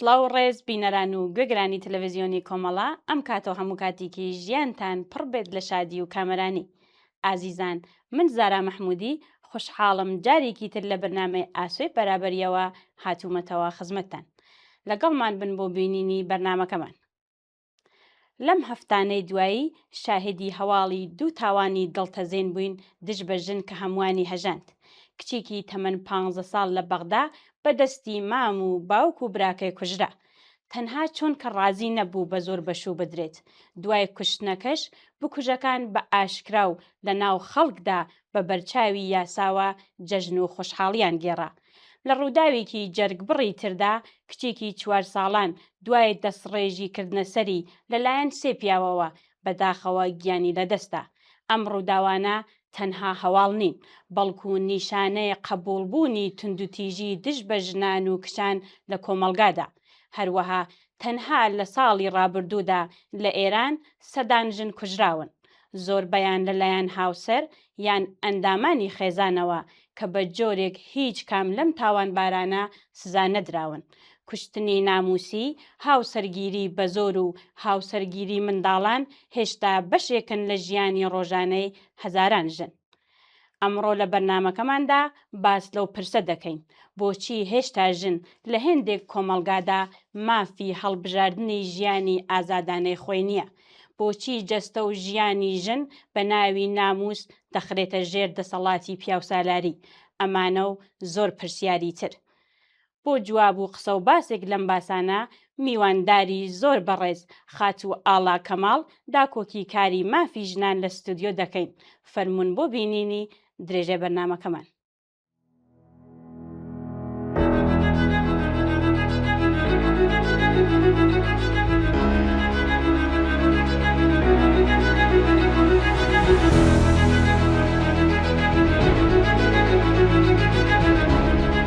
سڵاو و ڕێز بینەران و گوێگرانی تەلەڤزیۆنی کۆمەڵە ئەم کاتە و هەموو کاتێکی ژیانتان پڕ بێت لە شادی و کامەرانی ئازیزان من زارا مەحمودی خوشحاڵم جارێکی تر لە بەرنامەی ئاسۆی بەرابەریەوە هاتوومەتەوە خزمەتتان لەگەڵمان بن بۆ بینینی بەرنمەکەمان لەم هەفتانەی دوایی شاهدی هەواڵی دوو تاوانی دڵتەزێن بووین دژ بە ژن کە هەمووانی هەژاند. کچێکی تەمەن پانزە ساڵ لە بەغدا بە دەستی مام و باوک و براکەی کوژرا. تەنها چونکە ڕازی نەبوو بە زۆر بەشوو بدرێت. دوای کوشتنەکەش بکوژەکان بە ئاشکرا و لە ناو خەڵکدا بە بەرچاوی یاساوە جەژن و خۆشحاڵییان گێڕا. لە ڕووداوێکی جەرگبڕی تردا، کچێکی چوار ساڵان دوای دەستڕێژی کردنە سەری لەلایەن سێ پیاوەوە، بە داخەوە گیانی لەدەستدا. ئەم ڕووداوانە تەنها هەواڵ نین، بەڵکو نیشانەی قەبوڵبوونی توندوتیژی دژ بە ژنان و کچان لە کۆمەڵگادا. هەروەها تەنها لە ساڵی ڕابردوودا لە ئێران سەدان ژن کوژراون. زۆربەیان لەلایەن هاوسەر یان ئەندامانی خێزانەوە کە بە جۆرێک هیچ کام لەم تاوانبارانە سزا نەدراون، کوشتنی نامووسی، هاوسەرگیری بە زۆر و هاوسەرگیری منداڵان هێشتا بەشێکن لە ژیانی ڕۆژانەی هەزاران ژن. ئەمڕۆ لە بەرنامەکەماندا باس لەو پرسە دەکەین بۆچی هێشتا ژن لە هێندێک کۆمەڵگادا مافی هەڵبژاردنی ژیانی ئازادانەی خۆی نییە بۆچی جەستە و ژیانی ژن بە ناوی ناموس دەخرێتە ژێر دەسەڵاتی پیاوسالاری ئەمانە و زۆر پرسیاری تر بۆ جواب و قسە و باسێک لەم باسانە میوانداری زۆر بەڕێز خاتوو ئاڵا کەماڵ داکۆکی کاری مافی ژنان لە ستۆدیۆ دەکەین فەرموون بۆ بینینی درێژەی بەرنامەکەمان.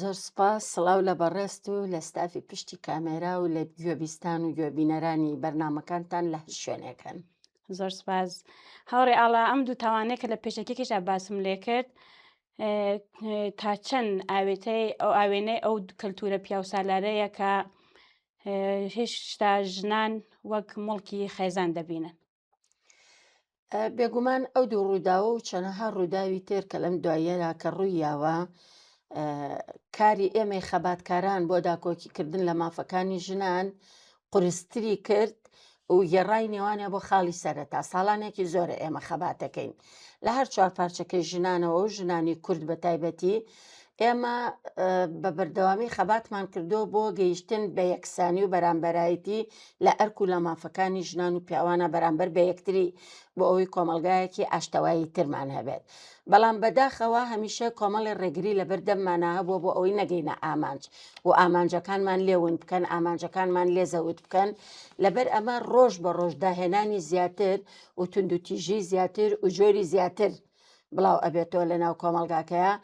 زۆر سوپاس، سڵاو لە بەڕێزت و لە ستافی پشتی کامێرا و لە گوێبیستان و گوێبینەرانی بەرنامەکانتان لە هەر شوێنێکن. زۆر سوپاس هاوڕێ ئاڵا، ئەم دوو تاوانەیە کە لە پێشەکیەکیشدا باسم لێ کرد تا چەند ئاوێتەی ئەو ئاوێنەی ئەو کەلتورە پیاوسالارەیە کە هێشتا ژنان وەک مڵکی خێزان دەبینن. بێگومان ئەو دوو ڕووداوە و چەنەها ڕووداوی تێر کە لەم دواییەرا کە ڕووی یاوە کاری ئێمەی خەباتکاران بۆ داکۆکیکردن لە مافەکانی ژنان قرستری کرد و گێڕای نێوانە بۆ خاڵی سەرەتا ساڵانێکی زۆرە ئێمە خەباتەکەین لە هەر چوار پارچەکەی ژنانەوە و ژنانی کورد بە تایبەتی ئێمە بە بەردەوامی خەباتمان کردووە بۆ گەیشتن بە یەکسانی و بەرامبەرایەتی لە ئەرک و لە مافەکانی ژنان و پیاوانە بەرامبەر بە یەکتری بۆ ئەوەی کۆمەلگایەکی ئاشتەوایی ترمان هەبێت بەڵام بەداخەوە هەمیشە کۆمەڵی ڕێگری لە بەردەممانە هەبووە بۆ ئەوەی نەگەینە ئامانج و ئامانجەکانمان لێون بکەن ئامانجەکانمان لێزەوت بکەن لەبەر ئەمە ڕۆژ بە ڕۆژ داهێنانی زیاتر و توندوتیژی زیاتر و جۆری زیاتر بڵاو ئەبێتەوە لە ناو کۆمەڵگاکەیا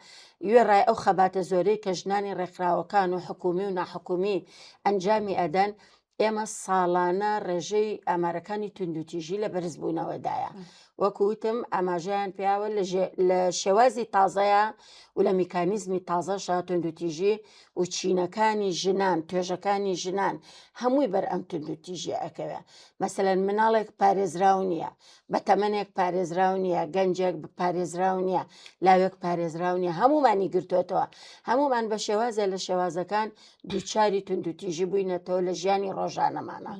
وێڕای ئەو خەباتە زۆرەی کە ژنانی ڕێکخراوەکان و حکومی و ناحکومی ئەنجامی ئەدەن ئێمە ساڵانە ڕێژەی ئامارەکانی توندوتیژی لە بەرزبوونەوەدایە وەکوتم ئاماژیان پیاوە لە شێوازی تازەیە و لە میکانیزمی تازە شاتون دوتیژی و چینەکانی ژنان توێژەکانی ژنان هەمووی بەر ئەم توندوتیژی ئەکەوێ مەسەەن مناڵێک پارێزراو نییە بە تەمەنێک پارێزراو نییە گەنجێک پارێزراو نییە لاوێک پارێزراو نییە هەمومانی گرتوێتەوە هەمومان بە شێوازە لە شێوازەکان دووچاری توندوتیژی بووینەتەوە لە ژیانی ڕۆژانەمانە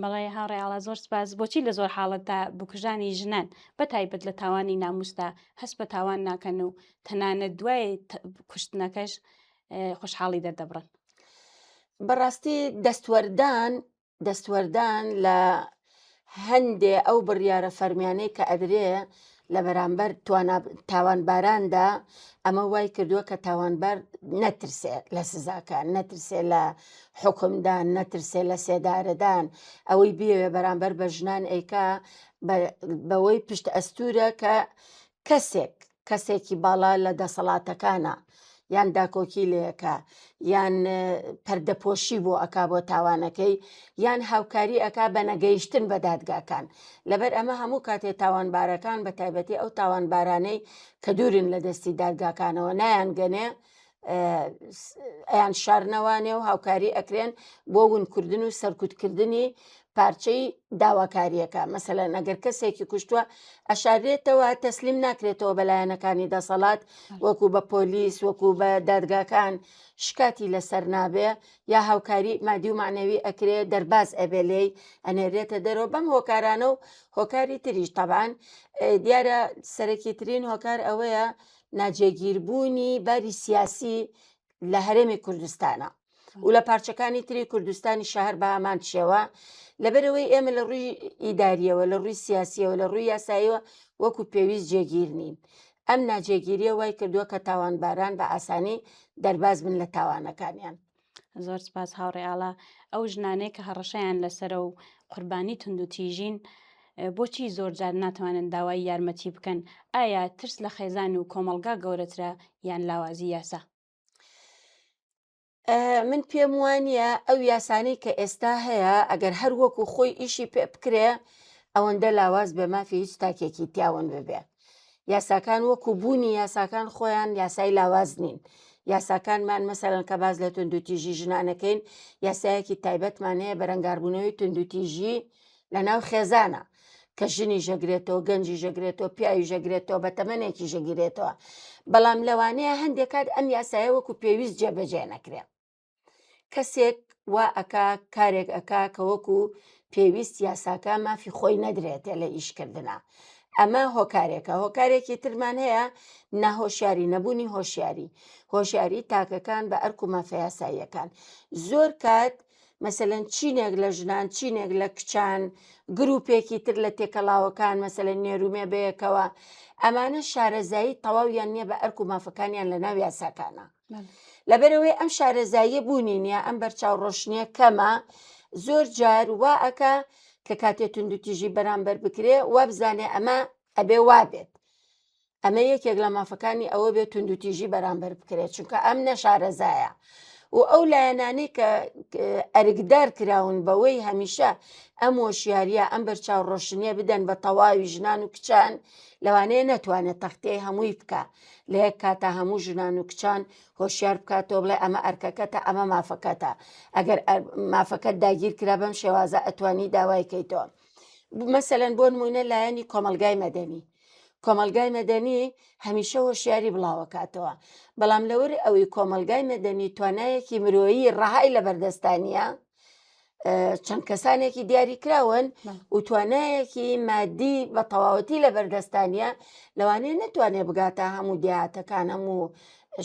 بەڵێ هاڕێڵا زۆر سپاس بۆچی لە زۆر حاڵەت تا بکوژانی ژنان بە تایبەت لە تاوانی ناموستا هەست بە تاوان ناکەن و تەنانە دوای کوشتنەکەش خۆشحاڵی دەردەبڕن بەڕاستی دەستوەردان دەستوەردان لە هەندێ ئەو بڕیارە فەرمیانەی کە ئەدرێ لە بەرامبەر تاوانباراندا ئەمە وای کردووە کە تاوانبار نەترسێ لە سزاکان نەترسێ لە حکمدان نەترسێ لە سێدارەدان ئەوەی بێوێ بەرامبەر بە ژنان ئەیکا بەوەی پشت ئەستورە کە کەسێک کەسێکی باڵا لە دەسەڵاتەکانە یان داکۆکی لێکە یان پەردەپۆشی بۆ ئەکا بۆ تاوانەکەی یان هاوکاری ئەکا بە نەگەیشتن بە دادگاکان لەبەر ئەمە هەموو کاتێ تاوانبارەکان بە تایبەتی ئەو تاوانبارانەی کە دوورن لە دەستی دادگاکانەوە نایان گەنێ ئەیان شارنەوە نێو هاوکاری ئەکرێن بۆ ونکردن و سەرکوتکردنی پارچەی داواکاریەکە مەسەلەن ئەگەر کەسێکی کوشتووە ئەشارێتەوە تەسلیم ناکرێتەوە بەلایەنەکانی دەسەڵات وەکو بە پۆلیس وەکو بە دادگاکان شکاتی لەسەر نابێ یا هاوکاری مادی و معنەوی ئەکرێ دەرباز ئەبێ لێی ئەنێرێتە دەرەوە بەم هۆکارانە و هۆکاری تریش تەبان دیارە سەرەکی ترین هۆکار ئەوەیە ناجێگیربوونی باری سیاسی لە هەرێمی کوردستانە و لە پارچەکانی تری کوردستانی شەهر بە هەمان شێوە لەبەرەوەی ئێمە لە ڕووی ئیداریەوە لە ڕووی سیاسیەوە لە ڕووی یاساییەوە وەکو پێویست جێگیر نین ئەم ناجێگیریە وای کردووە کە تاوانباران بە ئاسانی دەرباز بن لە تاوانەکانیان زۆر سپاس هاوڕێ ئاڵا ئەو ژنانەیە کە هەڕەشەیان لەسرە و قوربانی تونند و تیژین بۆچی زۆرجار ناتوانن داوای یارمەتی بکەن ئایا ترس لە خێزان و کۆمەلگا گەورەترە یان لاوازی یاسا من پێم وانە ئەو یاسانەی کە ئێستا هەیە ئەگەر هەر وەکو خۆی ئیشی پێ بکرێ ئەوەندە لاواز بێ مافی هیچ تاکێکی تیاون ببێ یاساکان وەکو بوونی یاساکان خۆیان یاسای لاواز نین یاساکانمان مەسەرەن کە باز لە توندوتیژی ژنانەکەین یاسایەکی تایبەتمان هەیە بەرەنگاربوونەوەی توندوتیژی لە ناو خێزانە کە ژنی ژەگرێتەوە گەنجی ژەگرێتەوە پیاوی ژەگرێتەوە بە تەمەێکی ژەگیرێتەوە بەڵام لەوانەیە هەندێک کات ئەم یاسایە وەکو پێویست جێبەجێ نەکرێت کەسێک وا ئەکا کارێک ئەکا کە وەکو پێویست یاساکە مافی خۆی نەدرێتێ لە ئیشکردە ئەمە هۆکارێکە هۆکارێکی ترمان هەیە ناهۆشیاری نەبوونی هۆشیاری هۆشیاری تاکەکان بە ئەرک و مافەیاساییەکان زۆر کات مەسەن چینێک لە ژنان چینێک لە کچان گرروپێکی تر لە تێکەڵاوەکان مەسەن نێرومێ بەیەکەوە ئەمانە شارەزایی تەواویان نییە بە ئەرک و مافەکانیان لە ناو یاساکانە لەبەرەوەی ئەم شارەزاییە بوونی نییە ئەم بەرچاو ڕۆشنیە کەمە زۆر جار وا ئەکا کە کاتێ تونند و تیژی بەرامبەر بکرێ وابزانێ ئەمە ئەبێ وابێت ئەمە یەکێک لە مافەکانی ئەوە بێت تونند و تیژی بەرامبەر بکرێت چونکە ئەم نەشارەزایە و ئەو لایەنانی کە ئەرگدار کراون بەوەی هەمیشە ئەم وەشیاریە ئەم بەرچاو ڕۆشنیە بدەن بە تەواوی ژنان و کچان لەوانەیە نەتوانێت تەختەیە هەمووی بکە لە یەک کاتا هەموو ژنان و کچان هۆشیار بکاتەوە بڵێ ئەمە ئەرکەکەتە ئەمە مافەکەتە ئەگەر مافەکەت داگیر کرا بەم شێوازە ئەتوانی داوایکەیتەوە مەسەەن بۆ نمونە لایەنی کۆمەلگای مەدەنی کۆمەلگای مەدەنی هەمیشە هۆشیاری بڵاوەکاتەوە بەڵام لەوەری ئەوەی کۆمەلگای مەدەنی توانایەکی مرۆیی ڕەهای لە بەردەستانە چەند کەسانێکی دیاریکراون و توانایەکی مادی بە تەواوەتی لە بەردەستانە لەوانەیە نەتوانێت بگاتە هەموو دیاتەکان هەموو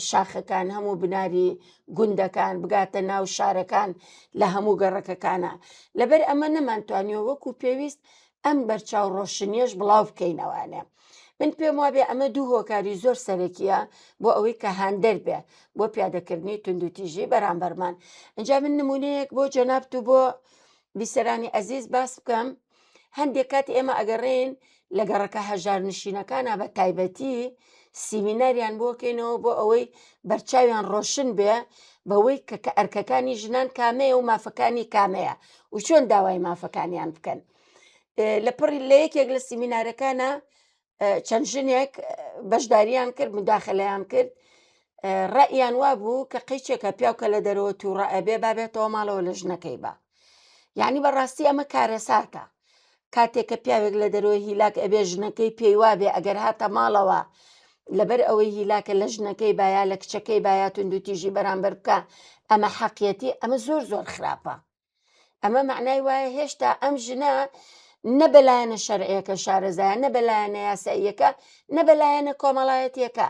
شاخەکان هەموو بناری گوندەکان بگاتە ناو شارەکان لە هەموو گەڕەکەکانە لەبەر ئەمە نەمانتوانیەوە وەکو پێویست ئەم بەرچاو ڕۆشنیەش بڵاو بکەینەوانێ من پێم وابێ ئەمە دوو هۆکاری زۆر سەرەکیە بۆ ئەوەی کە هاندەر بێ بۆ پیادەکردنی توندوتیژی بەرامبەرمان ئەجا من نمونەیەک بۆ جەنابت و بۆ بیسەرانی ئەزیز باس بکەم هەندێک کات ئێمە ئەگەڕێن لە گەڕەکە هەژار نشینەکانە بە تایبەتی سیمیناریان بۆکەینەوە بۆ ئەوەی بەرچاویان ڕۆشن بێ بەوەی کە کە ئەرکەکانی ژنان کامەیە و مافەکانی کامەیە و چۆن داوای مافەکانیان بکەن لە پڕی لە یەکێک لە سیمینارەکانە چەند ژنێک بەشداریان کرد مداخلیان کرد ڕئیان وا بوو کە قیچێکە پیاوکە لە دەرەوە تو ڕئەبێ بابێتەوە ماڵەوە لە ژنەکەی بە یعنی بەڕاستی ئەمە کارەساتە کاتێک کە پیاوێک لە دەرەوە هیلاک ئەبێ ژنەکەی پێی وابێ ئەگەر هاتە ماڵەوە لەبەر ئەوەی هیلاکە لە ژنەکەی بایا لە کچەکەی بایا تونندوتیژی بەرامبەر بکە ئەمە حەقیەتی ئەمە زۆر زۆر خراپە ئەمە معنای وایە هێشتا ئەم ژنە نە بەلایەنە شەرعەکە شارەزایە نە بەلایەنە یاساییەکە نە بەلایەنە کۆمەڵایەتیەکە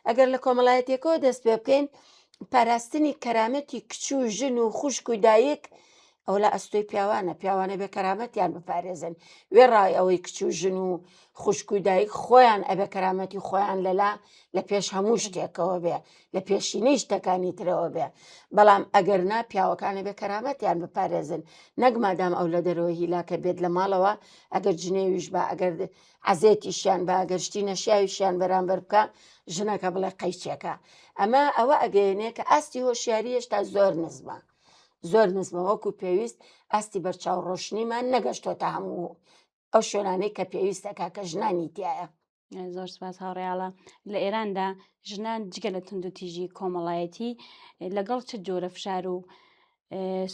ئەگەر لە کۆمەڵایەتەکەەوە دەست پێ بکەین پاراستنی کەرامەتی کچ و ژن و خوشک و دایک ئەو لە ئەستۆی پیاوانە پیاوانە بێ کەرامەتیان بپارێزن وێڕای ئەوەی کچ و ژن و خوشک و دایک خۆیان ئەبێ کەرامەتی خۆیان لەلا لە پێش هەموو شتێکەوە بێ لە پێشینەی شتەکانی ترەوە بێ بەڵام ئەگەر نا پیاوەکان ئەبێ کەرامەتیان بپارێزن نەک مادام ئەو لە دەرەوەی هیلاکە بێت لە ماڵەوە ئەگەر جنێویش با ئەگەر عەزێتیشیان با ئەگەر شتی نەشیاویشیان بەرامبەر بکە ژنەکە بڵێ قەیچێکە ئەمە ئەوە ئەگەیەنێ کە ئاستی هۆشیاری هێشتا زۆر نزمە زۆر نزمە وەکو پێویست ئاستی بەرچاو ڕۆشنیمان نەگەشتۆتە هەموو ئەو شوێنانەی کە پێویستەکە کە ژنانی تایە زۆر سپاس هاوڕیاڵە لە ئێراندا ژنان جگە لە توندوتیژی کۆمەڵایەتی لەگەڵ چ جۆرە فشار و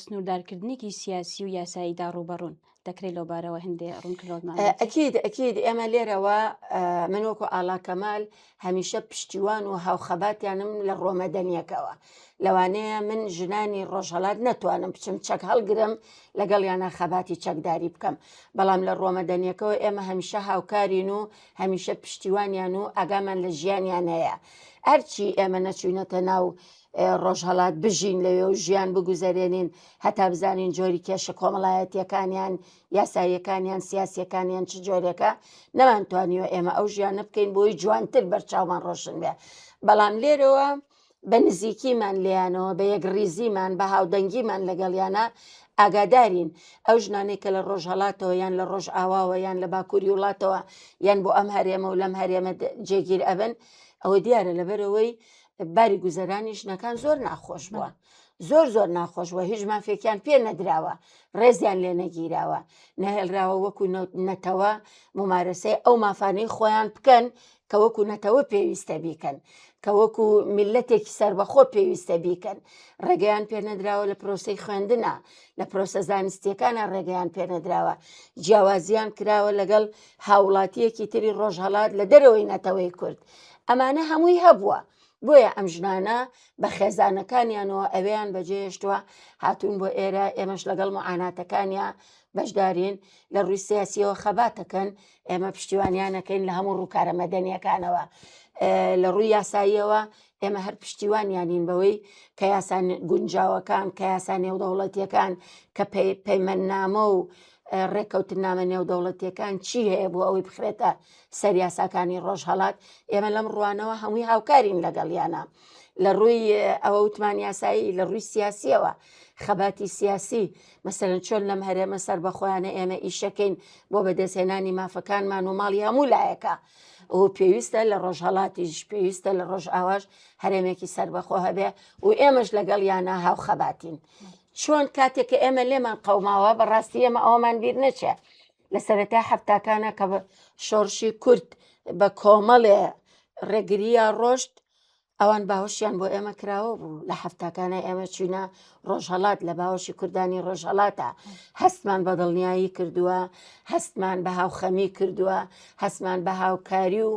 سنووردارکردنێکی سیاسی و یاساییدا ڕوبەڕون دەکرێت لەو بارەوە هەندێ ڕوونکردمان ئەکید ئەکید ئێمە لێرەوە من وەکو ئالاکەمال هەمیشە پشتیوان و هاوخەباتیانم لە ڕۆمەدەنیەکەوە لەوانەیە من ژنانی ڕۆژهەڵات نەتوانم بچم چەک هەڵگرم لەگەڵیانە خەباتی چەکداری بکەم بەڵام لە ڕۆمەدەنیەکەەوە ئێمە هەمیشە هاوکارین و هەمیشە پشتیوانیان و ئاگامان لە ژیانیان هەیە ئەرچی ئێمە نەچوینەتە ناو ڕۆژهڵات بژین لەوێ و ژیان بگوزارێنین هەتا بزانین جۆری کێشە کۆمەڵایەتیەکانیان یاساییەکانیان سیاسەکانیان چ جۆرێکە نەمانتوانیوە ئێمە ئەو ژیانە بکەین بۆی جوانتر بەرچاومان ڕۆشن بێ بەڵام لێرەوە بە نزیکیمان لێیانەوە، بە یەکڕیزیمان، بە هاودەنگیمان لەگەڵیانا ئاگادارین. ئەو ژنانەی کە لە ڕۆژهەڵاتەوە یان لە ڕۆژئاواوە یان لە باکووری وڵاتەوە یان بۆ ئەم هەرێمە و لەم هەرێمە جێگیر ئەبن، ئەوە دیارە لەبەرئەوەی باری گوزەرانی ژنەکان زۆر ناخۆش بووە. زۆر زۆر ناخۆش بووە، هیچ مافێکیان پێ نەدراوە، ڕێزیان لێ نەگیراوە، نەهێڵراوە وەکو نەتەوە مومارەسەی ئەو مافانەی خۆیان بکەن کە وەکو نەتەوە پێویستە بیکەن کە وەکو میلەتێکی سربەخۆ پێویستە بیکەن ڕێگەیان پێنەدراوە لە پرۆسی خوێندنە لە پرۆسە زانستیەکانە ڕێگەیان پێنەدراوە جیاوازیان کراوە لەگەڵ هاوڵاتیەکی تری ڕۆژهڵات لە دەرەوەی نەتەوەی کورد ئەمانە هەمووی هەبووە بۆیە ئەم ژنانە بە خێزانەکانیانەوە ئەویان بەجێشتووە هاتوون بۆ ئێرە ئێمەش لەگەڵ معاناتەکانیان بەشدارین لە ڕووی سیاسیەوە خەباتەکەن ئێمە پشتیوانیان ئەکەین لە هەموو ڕووکارە مەدەنیەکانەوە لە ڕووی یاساییەوە ئێمە هەر پشتیوانیانین بەوەی کە یاسان گونجاوەکان کە یاسا نێودەوڵەتیەکان کە پەیمەننامە و ڕێککەوتنامە نێودەوڵەتیەکان چی هەیە بۆ ئەوەی بخرێتە سەر یاساکانی ڕۆژهڵات ئێمە لەم ڕوانەوە هەمووی هاوکارین لەگەڵیانە لە ڕووی ئەوە وتمان یاسایی لە ڕووی سیاسیەوە خەباتی سیاسی مەسەلەن چۆن لەم هەرێمە سەربەخۆیانە ئێمە ئیشەکەین بۆ بەدەستهێنانی مافەکانمان و ماڵی هەموو لایەکە و پێویستە لە ڕۆژهڵاتیش پێویستە لە ڕۆژ ئاواش هەرێمێکی سربەخۆ هەبێ و ئێمەش لەگەڵ یانە هاوخەباتین چۆن کاتێک کە ئێمە لێمان قەوماوە بەڕاستی ئێمە ئەومان بیر نەچێ لە سەرەتا هەفتاکانە کە شۆڕشی کورد بە کۆمەڵێ ڕێگریە ڕۆشت ئەوان باوەشیان بۆ ئێمە کراوە بوو لە هەفتاکانە ئێمە چوینە ڕۆژهڵات لە باوەشی کوردانی ڕۆژهڵاتە هەستمان بە دڵنیایی کردووە هەستمان بە هاوخەمی کردووە هەستمان بە هاوکاری و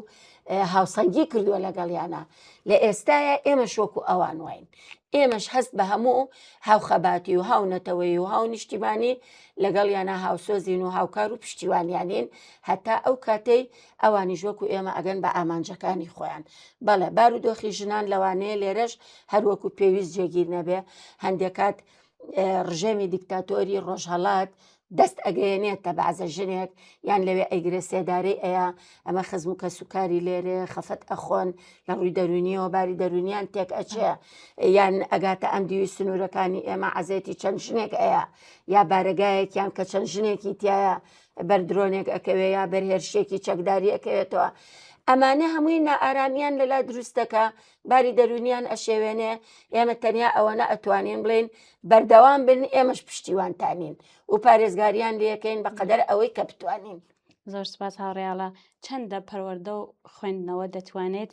هاوسەنگی کردووە لەگەڵیانە لە ئێستاە ئێمە شۆک و ئەوان واین ئێمەش هەست بە هەموو هاوخەباتی و هاو نەتەوەی و هاو نیشتیمانی لەگەڵ یانە هاوسۆزین و هاوکار و پشتیوانیانین هەتا ئەو کاتەی ئەوانیش وەکو ئێمە ئەگەن بە ئامانجەکانی خۆیان بەڵێ بارودۆخی ژنان لەوانەیە لێرەش هەروەکو پێویست جێگیر نەبێ هەندێک کات ڕژێمی دیکتاتۆری ڕۆژهڵات دەست ئەگەیەنێت تە بەعزە ژنێک یان لەوێ ئەیگرێ سێدارەی ئەیە ئەمە خزم و کەسوکاری لێرێ خەفەت ئەخۆن لە ڕووی دەرونیەوە باری دەرونیان تێک ئەچێ یان ئەگاتە ئەم دیوی سنوورەکانی ئێمە عزێتی چەند ژنێک ئەیە یا بارگایەکیان کە چەند ژنێکی تایە بەر درۆنێک ئەکەوێ یا بەر هێرشێکی چەکداری ئەکەوێتەوە ئەمانە هەمووی نائارامیان لەلا دروستەکە باری دەرونیان ئەشێوێنێ ئێمە تەنیا ئەوەنە ئەتوانین بڵین بەردەوام بن ئێمەش پشتیوانتانین و پارێزگاریان لەکەین بەقەدەر ئەوەی کە بتوانین زۆر سپاس هاوڕێاڵە چەندە پەروەەردە و خوێندنەوە دەتوانێت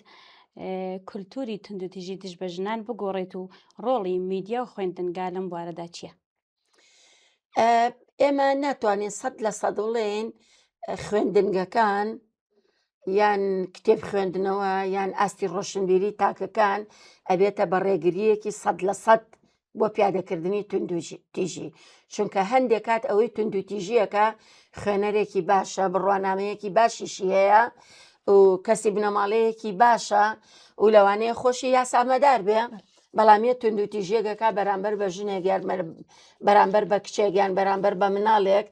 کولتوری تونندتیژی دژ بە ژنان بگۆڕێت و ڕۆڵی میدیا و خوێندنگا لەم بوارەدا چییە؟ ئێمە ناتوانین سەد لە سەدڵێن خوێندنگەکان یان کتێب خوێندنەوە یان ئاستی ڕۆشنبیری تاکەکان ئەبێتە بە ڕێگریەکی سەد لە سەد بۆ پیادەکردنی توندوژی تیژی چونکە هەندێک کات ئەوەی توندو تیژیەکە خوێنەرێکی باشە بڕوانامەیەکی باشیشی هەیە و کەسی بنەماڵەیەکی باشە و لەوانەیە خۆشی یاسامەدار بێ بەڵام یە توندوتیژیەکەکە بەرامبەر بە ژنێک یان بەرامبەر بە کچێک یان بەرامبەر بە مناڵێک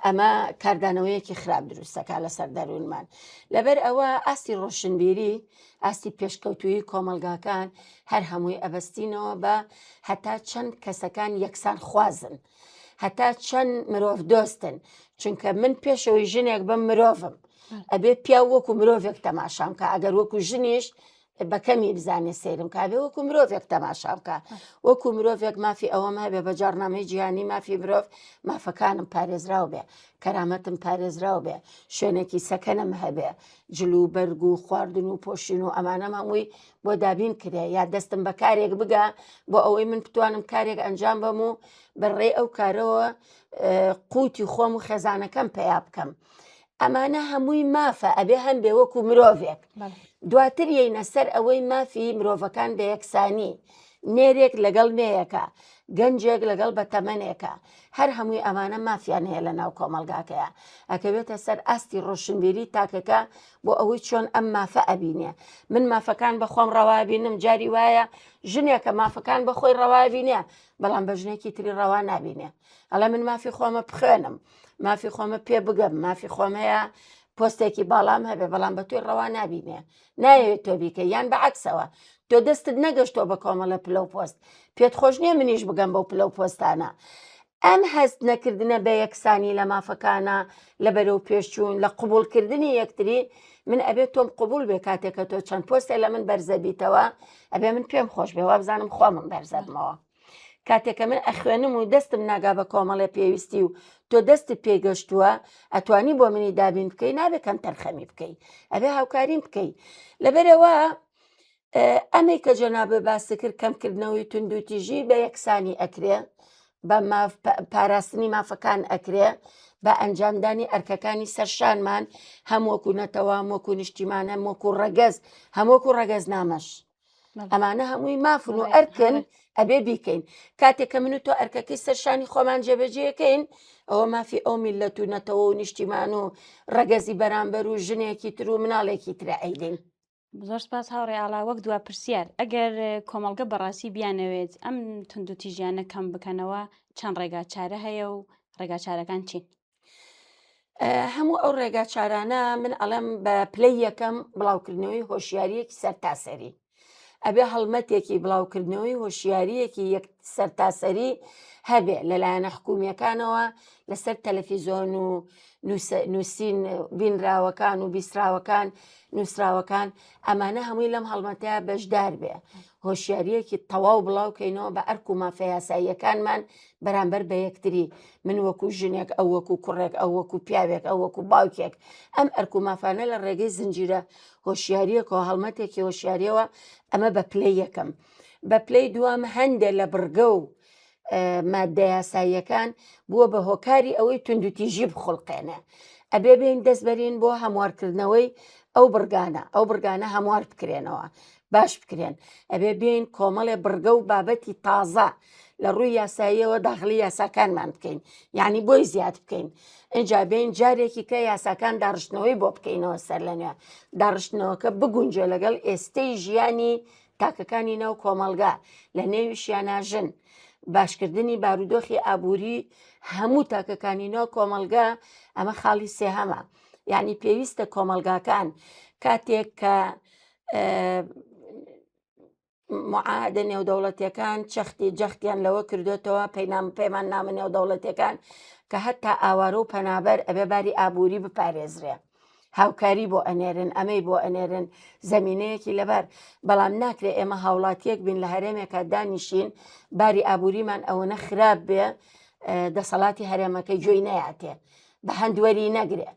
ئەمە کاردانەوەیەکی خراپ دروستەکە لەسەر دەروونمان لەبەر ئەوە ئاستی ڕۆشنبیری ئاستی پێشکەوتویی کۆمەلگاکان هەر هەمووی ئەبستینەوە بە هەتا چەند کەسەکان یەکسان خوازن هەتا چەند مرۆڤ دۆستن چونکە من پێشەوەی ژنێک بم مرۆڤم ئەبێ پیا وەکو مرۆڤێک تەماشام کە ئەگەر وەکو ژنیش بە کەمی بزانێ سەیرم کابێ وەکو مرۆڤێک تەماشا بکە وەکو مرۆڤێک مافی ئەوەم هەبێ بە جارنامەی جیهانی مافی مرۆڤ مافەکانم پارێزراو بێ کەرامەتم پارێزراو بێ شوێنێکی سەکەنم هەبێ جل و بەرگ و خواردن و پۆشین و ئەمانە مامووی بۆ دابین کرێ یا دەستم بە کارێک بگە بۆ ئەوەی من بتوانم کارێک ئەنجام بەم و بەڕێ ئەو کارەوە قوتی خۆم و خێزانەکەم پیا بکەم. ئەمانە هەمووی مافە ئەبێ هەمبێ وەکو مرۆڤێک دواتر یینە سەر ئەوەی مافی مرۆڤەکان بە یەکسانی نێرێک لەگەڵ نێیەکە گەنجێک لەگەڵ بە تەمەنێکە هەر هەمووی ئەمانە مافیان هەیە لە ناو کۆمەلگاکەیە ئەکەوێتە سەر ئاستی ڕۆشنبیری تاکەکە بۆ ئەوەی چۆن ئەم مافە ئەبینێ من مافەکان بەخۆم ڕەوابینم جاری وایە ژنێکە مافەکان بەخۆی ڕەوابینێ بەڵام بە ژنێکی تری ڕەوا نابینێ ئەڵێ من مافی خۆمە بخوێنم مافی خۆمە پێ بگەم مافی خۆم هەیە پۆستێکی باڵام هەبێ بەڵام بە توی ڕەوا نبینێ ناوێت تۆ بیکە یان بە عکسەوە تۆ دەستت نەگەشتۆ بە کۆمەڵە پلە و پۆست پێت خۆش نییە منیش بگەم بەو پلە و پۆستانە ئەم هەست نەکردنە بە یەکسانی لە مافەکانە لە بەرەو پێشچوون لە قوبولکردنی یەکتری من ئەبێت تۆم قوبول بێ کاتێکە تۆ چەند پۆستێ لە من بەرزەبیتەوە ئەبێ من پێم خۆش بێ وابزانم خۆمم بەرزەبمەوە کاتێ کە من ئەخوێنم و دەستم ناگا بە کۆمەڵێ پێویستی و تۆ دەستت پێی گەشتووە ئەتوانی بۆ منی دابین بکەی نابێ کەم تەرخەمی بکەی ئەبێ هاوکاریم بکەی لەبەرەوە ئەمەی کە جەنابێ باسی کرد کەمکردنەوەی توندوتیژی بە یەکسانی ئەکرێ بە پاراستنی مافەکان ئەکرێ بە ئەنجامدانی ئەرکەکانی سەرشانمان هەمووەکو نەتەوە وەکو نیشتیمانە وەکو ڕەگەز هەمووەکو ڕەگەز نامەش ئەمانە هەمووی مافن و ئەرکن ئەبێ بیکەین کاتێک کە من و تۆ ئەرکەکەی سەرشانی خۆمان جێبەجێەکەین ئەوە مافی ئەو میلەت و نەتەوە و نیشتیمان و ڕەگەزی بەرامبەر و ژنێکی تر و مناڵێکی ترە ئەیدین. زۆر سپاس هاوڕێ ئاڵا وەک دوا پرسیار ئەگەر کۆمەڵگە بەڕاستی بیانەوێت ئەم تونند و تیژیانە کەم بکەنەوە چەند ڕێگا چارە هەیە و ڕێگا چارەکان چین؟ هەموو ئەو ڕێگا چارانە من ئەڵێم بە پلەی یەکەم بڵاوکردنەوەی هۆشیاریەکی سەرتاسەری ئەبێ هەڵمەتێکی بڵاوکردنەوەی هۆشیاریەکی یەک سەرتاسەری هەبێ لەلایەنە حکومیەکانەوە لەسەر تەلەفیزۆن و نووسین بینراوەکان و بیسراوەکان نووسراوەکان ئەمانە هەمووی لەم هەڵمەتەیە بەشدار بێ هۆشیارییەکی تەواو بڵاو کەینەوە بە ئەرک و مافە یاساییەکانمان بەرامبەر بە یەکتری، من وەکوو ژنێک، ئەو وەکوو کوڕێک، ئەو وەکوو پیاوێک، ئەو وەکوو باوکێک، ئەم ئەرک و مافانە لە ڕێگەی زنجیرە هۆشیارییەک و هەڵمەتێکی هۆشیارییەوە، ئەمە بە پلەی یەکەم. بە پلەی دووەم هەندێ لە بڕگە و ماددە یاساییەکان بووە بە هۆکاری ئەوەی توندوتیژی بخڵقێنێ ئەبێ بین دەست بەرین بۆ هەموارکردنەوەی ئەو بڕگانە ئەو بڕگانە هەموار بکرێنەوە باش بکرێن ئەبێ بین کۆمەڵێ بڕگە و بابەتی تازە لە ڕووی یاساییەوە داخلی یاساکانمان بکەین یعنی بۆی زیاد بکەین ئەجا بین جارێکی کە یاساکان داڕشتنەوەی بۆ بکەینەوە سەر لەنوێ داڕشتنەوەکە بگونجێ لەگەڵ ئێستەی ژیانی تاکەکانی ناو کۆمەڵگا لە نێویشیانە ژن باشکردنی بارودۆخی ئابووری هەموو تاکەکانی ناو کۆمەلگا ئەمە خاڵی سێهەمە یعنی پێویستە کۆمەلگاکان کاتێک کە معادە نێودەوڵەتەکان چەختی جەختیان لەوە کردوێتەوە پەینام پەیمان نامە نێودەوڵەتەکان کە هەتا ئاوارە و پەنابەر ئەبێ باری ئابووری بپارێزرێ هاوکاری بۆ ئەنێرن ئەمەی بۆ ئەنێرن زمینەیەکی لەبار بەڵام ناکرێت ئێمە هاوڵاتیەک بین لە هەرێمێکە دانیشین باری ئابووریمان ئەوەنە خراپ بێ دەسەڵاتی هەرێمەکە گوێی نەیاتێ بە هەندوەری نەگرێ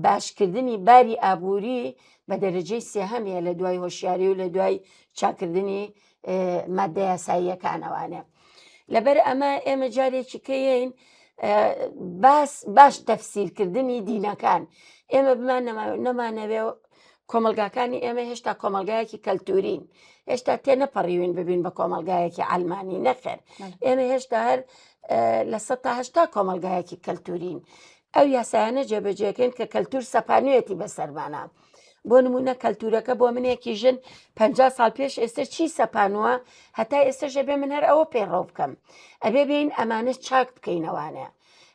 باشکردنی باری ئابووری بە دەرەجەی سێهەمیە لە دوای هۆشیاری و لە دوای چاکردنی مادە یاساییەکانەوانێ لەبەر ئەمە ئێمە جارێکی کەین باس باش تەفسیرکردنی دینەکان ئێمە بمان نەمانەوێ کۆمەلگاکانی ئێمە هێشتا کۆمەلگایەکی کەلتورین هێشتا تێ نەپەڕیوین ببین بە کۆمەلگایەکی ئەلمانی نەخێر ئێمە هێشتا هەر لە سەهشتا کۆمەلگایەکی کەلتورین ئەو یاسایانە جێبەجێکەین کە کەلتور سەپانوێتی بەسەرمانە بۆ نمونە کەلتورەکە بۆ منێکی ژن پ سال پێش ئێستا چی سەپانوە هەتا ئێستاش ئەبێ من هەر ئەوە پەیڕەو بکەم ئەبێ بین ئەمانە چاک بکەینەوانەیە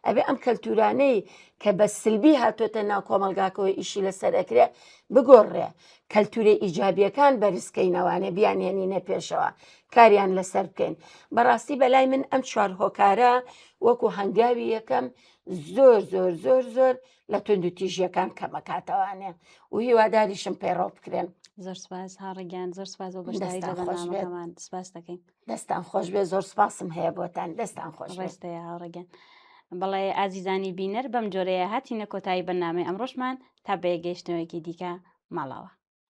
ئەبێ ئەم کەلتورانەی کە بە سلبی هاتۆتە ناو کۆمەلگاکەوە ئیشی لەسەر ئەکرێ بگۆڕێ کەلتورە ئیجابیەکان بەرزکەینەوانێ بیانێنینە پێشەوە کاریان لەسەر بکەین بەڕاستی بەلای من ئەم چوار هۆکارە وەکو هەنگاوی یەکەم زۆر زۆر زۆر زۆر زۆر لە تونند و تیژیەکان کەمەکاتەوانێ و هیواداریشم پەیڕۆ بکرێن زۆر سپاس هاڕگەیان زۆر سپاس بۆ بەشداری لە دەستان خۆش بێت. بەرنامەکەمان سپاس دەکەین دەستان خۆش بێ زۆر سپاسم هەیە بۆتان دەستان خۆش بێت. ڕێستە هاوڕگەن بەڵێ ئازیزانی بینەر بەم جۆرەیە هاتینە کۆتایی بەنامەی ئەمڕۆشمان تا بەیەگەیشتنەوەیەکی دیکە ماڵاوە